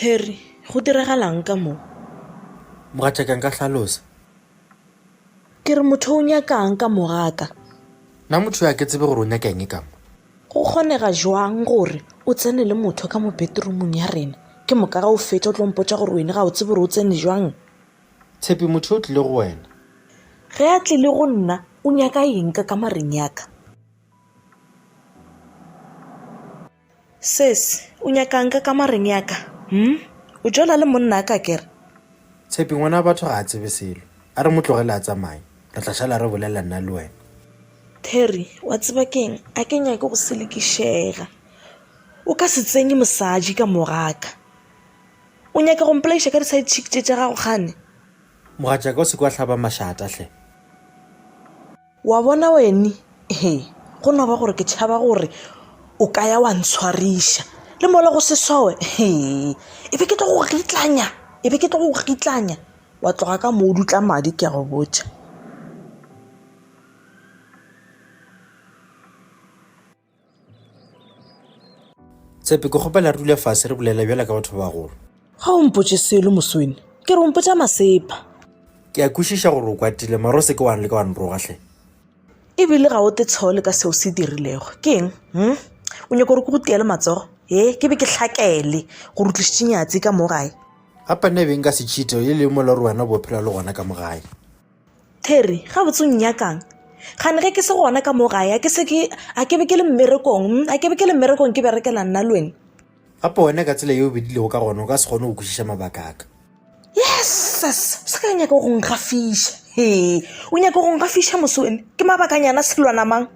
terry go diragalang ka mo mogatšakang ka hlalosa ke re motho o nyakang ka mogaka na motho yo a ke tsebe gore o nyaka eng e kamo go kgonega jwang gore o tsene le motho ka mo betromong ya rena ke moka ga o fetša o tlompotsa gore wene ga o tsebe gore o tsene jwang Tshepi, motho yo o tlile go wena. Ge a tlile go nna, o nyaka eng ka kamareng ya ka? Sesi, o nyaka'ng ka kamareng ya ka? Hum, o jola le monna ka ke re? Tshepi, ngwana wa batho ga a tsebe selo. A re mo tlogele a tsamaye, re tla šala re bolelela nna le wena. Terry, wa tseba ke'ng, a ke nyake go selekišega. O ka se tsenye mosadi ka mogaka. O nyaka go mpolaiša ka di side chick tše tša gago kgane? Mogatšaka o se ke wa hlaba mašata hle. Wa bona wene he go no ba gore ke tšhaba gore o ka ya wa ntshwariša le mola go se sowe he e be ke tlo go gitlanya e be ke tlo go gitlanya wa tloga ka moo dutla madi ke a go botša. Tshepe, ke kgopela re dule fase re bolela bjala ka batho ba bagolo. Ga o mpotše selo moswene, ke re o mpotša masepa. Ke a kwešiša gore o kwatile mara o se ke wa leka wa nroga hle. E bile ga o te tshole ka seo se dirilego. Ke eng? Hm? O nyaka gore ke go tiele matsogo? He, ke be ke hlakele gore o tlišitše Nyatsi ka mo gae. Gapane e be nka se cheater e le mola gore wena o bo phela le gona ka mo gae. Terry, gabotse o nnyakang? Gane ge ke se gona ka mo gae, a ke se ke, a ke be ke le mmerekong, mm, a ke be ke le mmerekong ke berekela nna le wena. Gape wena ka tsela yeo bedilego ka gona o ka se kgone go kwešiša mabaka a ka. Yesus, o se ka nyaka go nkgafiša. He, o nyaka go nkgafiša moswene? Ke mabakanyana selwana mang?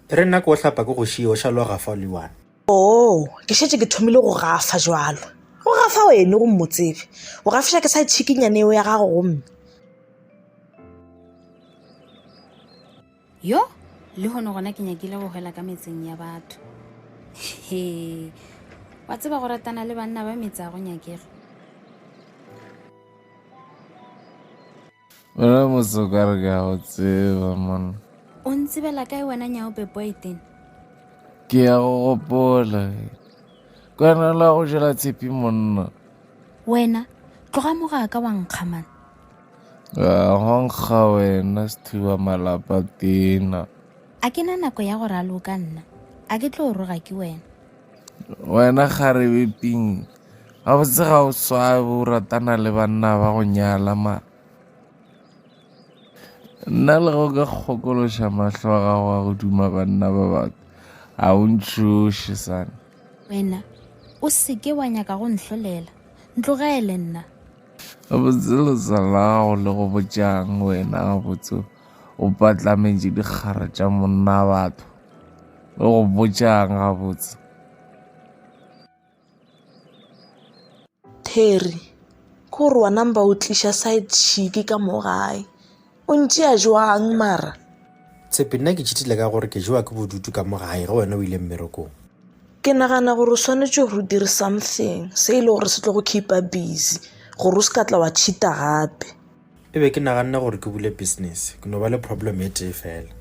Terry, nna ke o hlapa ke go šiye o šaloga fa o le one. Oo, ke šetše ke thomile go gafa jwalo. O gafa wene go mmotsebe. O gafiša ke sa tšhikinyane eo ya gago gomme. Yo, le hono gona ke nyakile go hwela ka metseng ya batho. He, wa tseba go ratana le banna ba metsi a go nyakega. Wena motse o ka re ke a go tseba monna. O ntsebela kae wena nyaope poeten? Ke ya go gopola. Kwena la go jela tshepi monna. Wena, tloga mo ga ka wa nkga man. Ga go nkga wena sethuba malapa tena. A ke na nako ya go raloka nna. A ke tlo roga ke wena. Wena kgarebe ping. Gabotse ga o swabe o ratana le banna ba go nyala ma nna le go ka kgokološa mahlo a gago a go duma banna ba baka ga o ntšhoše sane wena o seke wa nyaka go nhlolela ntlogele nna gabotse lesa la gago le go botšang wena gabotse o patlametše dikgara tša monna batho le go botšang gabotse Terry, ke gore wa number o tliša side chick ka mo gae o ntšea jwang mara tshepe nna ke cheatile ka gore ke jewa ke bodutu ka mo gae ge wena o ile mmerekong ke nagana gore o swanetše gore o dire something se e le gore se tlo go keepa busy gore o se ka tla wa cheata gape e be ke naganne gore ke bule business ke no ba le problem e tee fela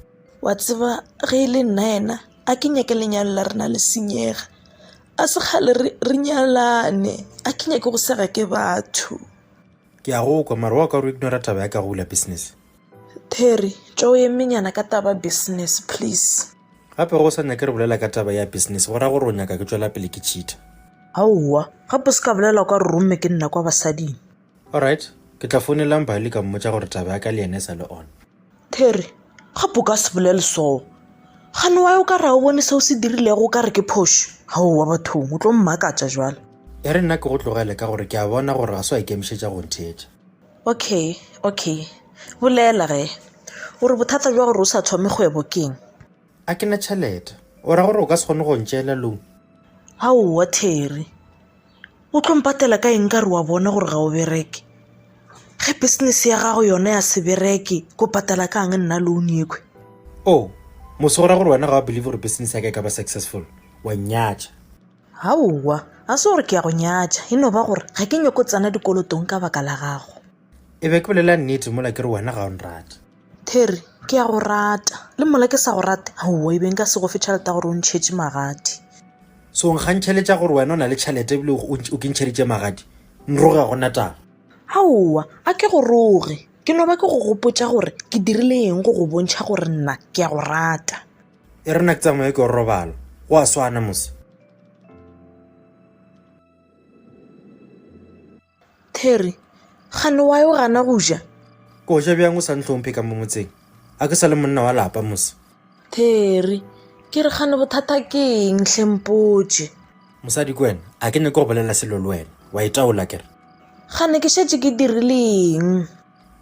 wa tseba ge e le nna ena A ke nyake lenyalo la rena le senyega A se kgale re nyalane A ke nyake go sega ke batho Ke a go kwa mara wa ka re ignora taba ya ka go bula business Terry tšwa o emenyana ka taba business please Gape go sa nyake re bolela ka taba ya business go ra gore o nyaka ke tšwela pele ke cheater Aowa gape se ka bolela kwa re romme ke nna kwa basading. Alright, ke tla founela Mbali ka mmotša gore taba ya ka le yena e sa le on. Terry, gape o ka se bolele soo. Gane wa o ka ra o bone seo se dirilego o ka re ke phošo. Aowa bathong, o tlo mmakatša bjale. E re nna ke go tlogele ka gore ke a bona gore ga se wa ikemišetša go ntheetša. Okay, okay. Bolela ge. O re bothata bja gore o sa thome kgwebo keng? A ke na tšhelete. O ra gore o ka se kgone go ntšeela loan? Aowa, Terry. O tlo mpatela ka eng ka re wa bona gore ga o bereke? Ge business ya gago yona ya se bereke, ko patela ka ang nna loan yekhwe? Oh, mose go ra gore wena ga wa believe gore business ya ka e ka ba successful? Wa nnyatša. Aowa, ga se gore ke ya go nyatša, e no ba gore ga ke nyoko tsena dikolotong ka baka la gago. E be ke bolela nnete mola ke re wena ga o nrate. Terry, ke ya go rata. Le mola ke sa go rate? Aowa, e be nka se go fe tšhelete ya gore o ntšhetše magadi. Se o nkgantšheletša gore wena o na le tšhelete ebile o nkintšheditše magadi? Nroge ga go na taba. Aowa, a ke go roge. Ke no ba ke go gopotša gore ke dirile eng go go bontšha gore nna ke ya go rata. E re nna ke tsamaye ke yo robala. Go a swana mos. Terry, Kgane wa yo gana go ja? Ke o ja bjang o sa ntlhomphe ka mo motseng? A ke sa le monna wa lapa mose? Terry, Ke re kgane bothata ke eng hle mpotše? Mosadi ke wena, a ke nyake go bolela selo le wena, wa itaola kere? Kgane ke šetše ke dirile eng?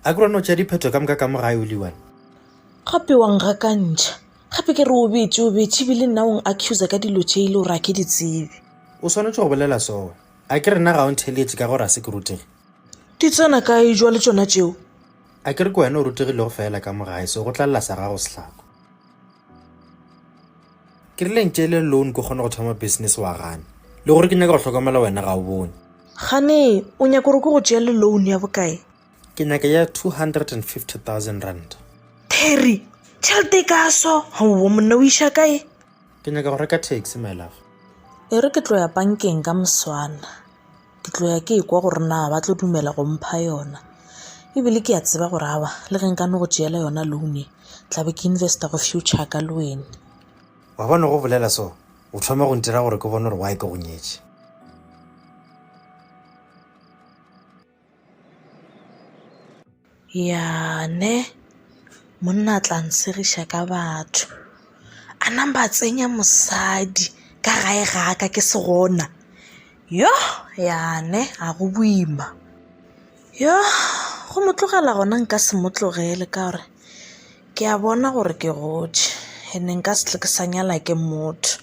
A ke rone o tšea diphetho ka moka ka mo gae o le one? Gape wa ngakantšha, gape ke re o betše o betše ebile nna o ng-accusa ka dilo tše e le gore a ke di tsebe. O swanetše go bolela sona, A ke re nna ga o ntheeletše ka gore a se ke rutege? Di tsena kae jwa le tšona tšeo? A ke re ke wena o rutegilego feela ka mo gae, se go tla lla sa gago sehlako. Ke rile ntšeele loan ke kgone go thoma business wa gana. Le gore ke nyaka go hlokomela wena ga o bone. Gane, o nyaka gore ke go tšeele loan ya bokae? Ke nyaka ya 250,000 ranta. Terry, tšhelete e kaso? Haowa monna o iša kae? Ke nyaka go reka taxi my love. E re ke tlo ya pankeng ka moswana ke tlo ya ke kwa gore na ba tlo dumela go mpha yona ebile ke ya tseba gore aba le ge nka no go tšeela yona loan e tlabe ke investa go future ka le wena wa bona go bolela so o thoma go ntira gore ke bone gore why ke go nyetše Ya ne monna a tla ntshegiša ka batho a namba a tsenya mosadi ka gae ga ka ke se gona yo ya ne a go boima yo go mo tlogela gona nka se mo tlogele ka gore ke a bona gore ke gotše ene nka se tle ke sa nyala ke motho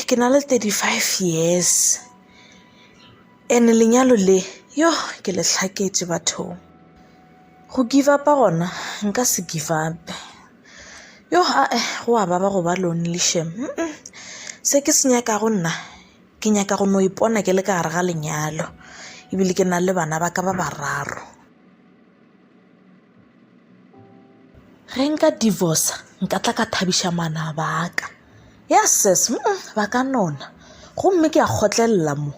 ke na le thirty five years. Ene lenyalo le yo ke le hlaketše bathong. Go give up-a gona nka se give up-e. Yo aa go a baba go ba lonely shem se ke se nyakago nna ke nyaka go no ipona ke le ka gare ga lenyalo ebile ke na le bana ba ka ba bararo. Ge nka divorce nka tla ka thabiša manaba a ka ya ses ba ka nona gomme ke a kgotlelela mo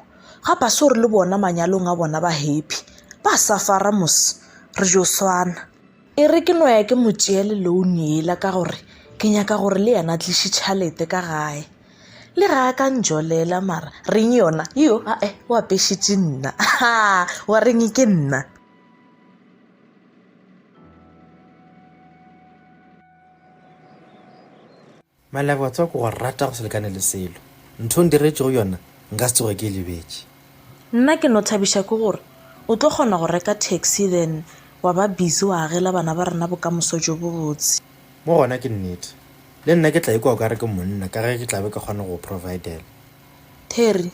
ga ba se gore le bona manyalong a bona ba happy ba sa fara mos re jo swana e re ke no ya ke mo tšeele loan ela ka gore ke nyaka gore le yena tliše tšhalete ka gae le ga a ka njolela mara reng yona yo ae o apešitše nna wa reng ke nna malebo wa tswa ko go rata go se lekane le selo ntho ndiretšego yona nka se tsoge ke e lebetše nna ke no thabiša ke gore o tlo kgona go reka taxi then wa ba busy wa agela bana ba rena bokamoso jo bo botse mo gona ke nnete le nna ke tla ikwa o ka re ke monna ka ge ke tlabe ke kgona go providela Terry,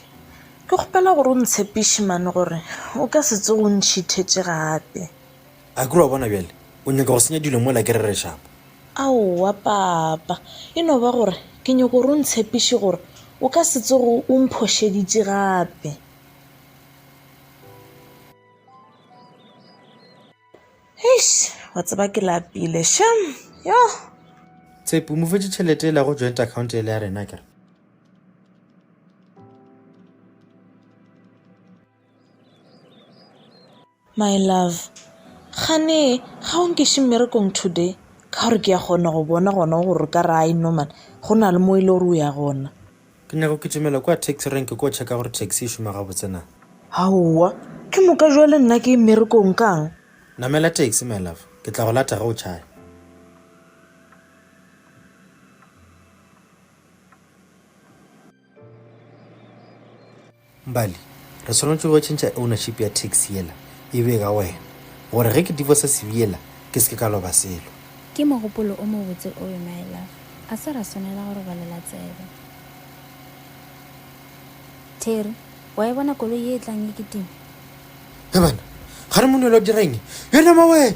Ke kgopela gore o ntshepiše mane gore o ka se tsoge o nthithetše gape. Akere wa bona bjale o nyaka go senya dilo mola ke rerešapa. Aowa, Papa. E no ba gore ke nyaka gore o ntshepiše gore o ka se tsoge o mphošeditše gape. Eish, wa tseba ke lapile, shame, yoh! Tshepo, o mo fetše tšhelete yela go joint account yela ya rena akere? My love, kgane ga o nkeše mmerekong today? Ka gore ke a kgona go bona gona gore o ka re I know mara go na le mo e le gore o ya gona. Ke nyaka go kitimela kwa taxi rank ko checka gore taxi e šoma gabotse na. Aowa, ke moka jwale nna ke ye mmerekong kang? Namela taxi my love, ke tla go lata ge o tšhaya. Mbali, re swanetše go tšhentšha ownership ya taxi yela e be ka wena gore ge ke divorce CV yela ke se ke ka loba selo. Ke mogopolo o mobotse oyo my love, a se ra swanela go robalela tsebe. Terry, wa e bona koloi ye e tlang e kitima? He bana, ga re monelo dira eng yona mawena?